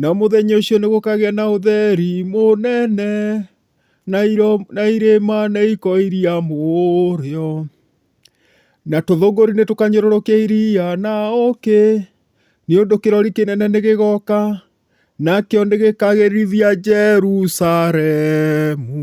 Na mũthenya ũcio nĩ gũkagĩa na ũtheri mũnene, na iro- na irĩma nĩ ikoiria mũrĩo, na tũthũngũri nĩ tũkanyũrũrũkia iria na ũũkĩ, nĩ ũndũ kĩrori kĩnene nĩ gĩgoka, nakĩo nĩ gĩkagĩrithia Jerusalemu.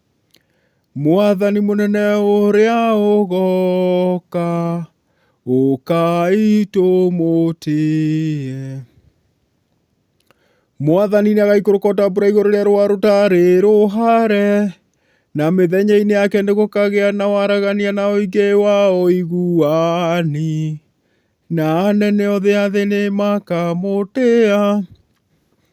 Mwathani mũnene ũrĩa ũgooka, ũkai tũmũtĩĩe. Mwathani nĩagaikũrũka o ta mbura igũrũ rĩa rũa rũtarĩ rũhare, na mĩthenya-inĩ yake nĩgũkagĩa na waragania na ũingĩ wa ũiguani, na anene othe a thĩ nĩmakamũtĩĩa.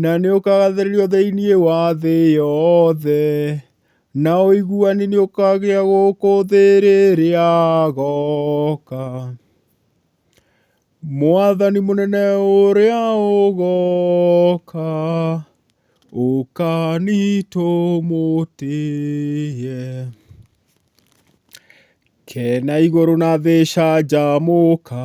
Na nĩ ũkagathĩrĩrio thĩinĩ wa thĩ yothe, na ũiguani nĩ ũkagĩa gũkũ thĩ rĩrĩa agooka. Mwathani mũnene ũrĩa ũgooka, ũka nitũmũtĩĩe. Kena igũrũ na thĩ canjamũka.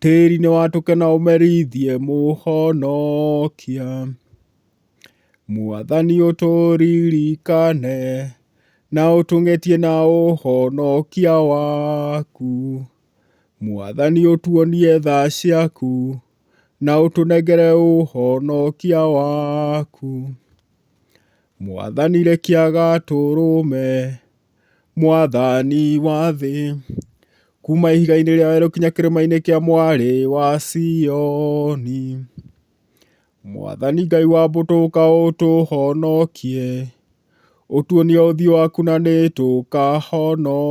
Tĩri nĩ watũke na ũmereithie Mũhonokia, Mwathani ũtũririkane, na ũtũng'etie na ũhonokia waku, Mwathani ũtuonie tha ciaku, na ũtũnengere ũhonokia waku, Mwathani rekia gatũrũme. Mwathani wa thĩ, kuuma ihiga-inĩ rĩa werũ nginya kĩrĩma-inĩ kĩa mwarĩ wa Sioni. Mwathani Ngai wa mbũtũ ũka ũtũhonokie, ũtuonie ũthiũ waku na nĩ tũkahonoka.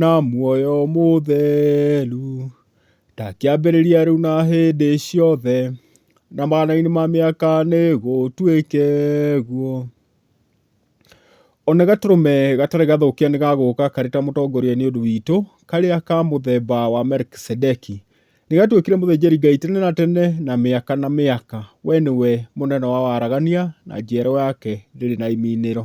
na muoyo mũtheru, ta kĩambĩrĩria rĩu na hĩndĩ ciothe, na mathĩna ma mĩaka nĩgũtuĩke guo. Ona gatũrũme gatarĩ gathũkia nĩgagũka karĩ ta mũtongoria nĩ ũndũ witũ, karĩa ka mũthemba wa Melikisedeki. Nĩgatuĩkire mũthĩnjĩri Ngai tene na tene na mĩaka na mĩaka. We nĩwe mũnene wa waragania, na njiaro yake ndĩrĩ na iming'ĩro.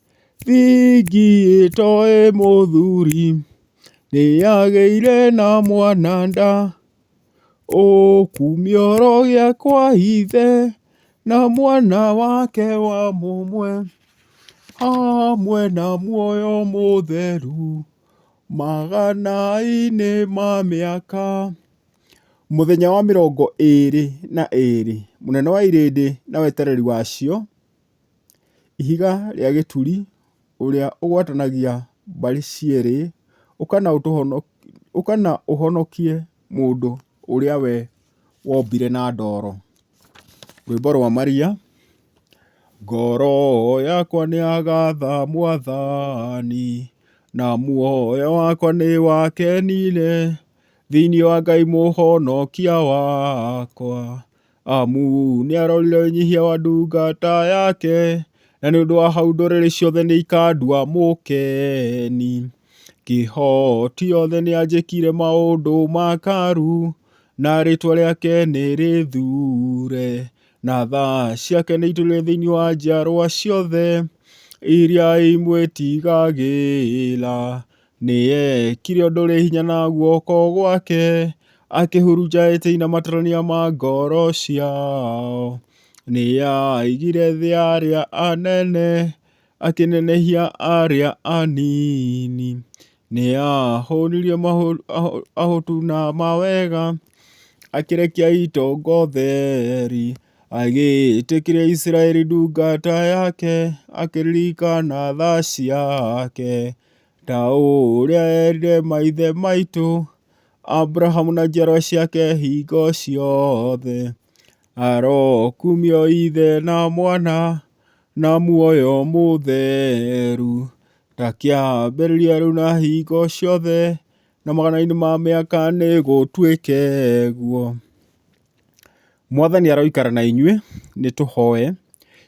Thigi ĩtoĩ mũthuri, nĩyagĩire na mwana nda, ũkumio ũrogĩa kwa ithe, na mwana wake wa mũmwe, hamwe na muoyo mũtheru, magana-inĩ ma mĩaka. Mũthenya wa mĩrongo ĩĩrĩ na ĩĩrĩ, mũnene wa irĩndĩ na wetereri wacio. Ihiga rĩa gĩturi, ũrĩa ũgwatanagia mbarĩ cierĩ, ũka na ũtũhonokie, ũka na ũhonokie mũndũ ũrĩa we wombire na ndoro. Rwĩmbo rwa maria. Ngoro yakwa nĩ yagatha mwathani, na muoyo wakwa nĩ wakenire, thĩiniĩ wa Ngai mũhonokia wakwa. Amu nĩarorire ũnyihia wa ndungata yake, na nĩ ũndũ wa hau ndũrĩrĩ ciothe nĩikandua mũkeni. Kĩhoti yothe nĩanjĩkire maũndũ ma karu, na rĩtwa rĩake nĩrĩthure, na tha ciake nĩitũire thĩinĩ wa njiarwa ciothe iria imwĩtigagĩra. Nĩeekire ũndũ ũrĩ hinya na guoko gwake, akĩhurunja etĩi na matarania ma ngoro ciao. Nĩaaigire thĩ ya arĩa anene, akĩnenehia arĩa anini. Nĩahũnirie ahũtu na mawega, akĩrekia itonga ũtheri. Agĩĩtĩkĩria Isiraeli ndungata yake, akĩririkana tha ciake. Ta ũrĩa eerire maithe maitũ, Abrahamu na njiarwa ciake hingo ciothe, arokumio ithe na mwana na muoyo mũtheru, ta kĩambĩrĩria rĩu na hingo ciothe, na magana-inĩ ma mĩaka nĩgũtuĩke guo. Mwathani aroikara na inyuĩ. Nĩ tũhoe.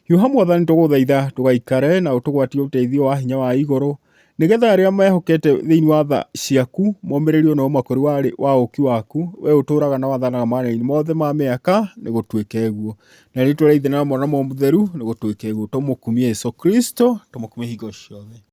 Hiũha Mwathani tũgũthaitha tũgaikare na ũtũgwatie ũteithio wa hinya wa igũrũ, nĩgetha arĩa mehokete thĩinĩ wa tha ciaku momĩrĩrio na ũmakũri wa, wa ũũki waku, we ũtũũraga na wathanaga mathĩna mothe ma mĩaka, nĩ gũtuĩke guo. Na rĩtwa rĩa Ithe na Mwana na Mũtheru, nĩ gũtuĩke guo. Tũmũkumie Jesũ Kristo, tũmũkumie hingo ciothe.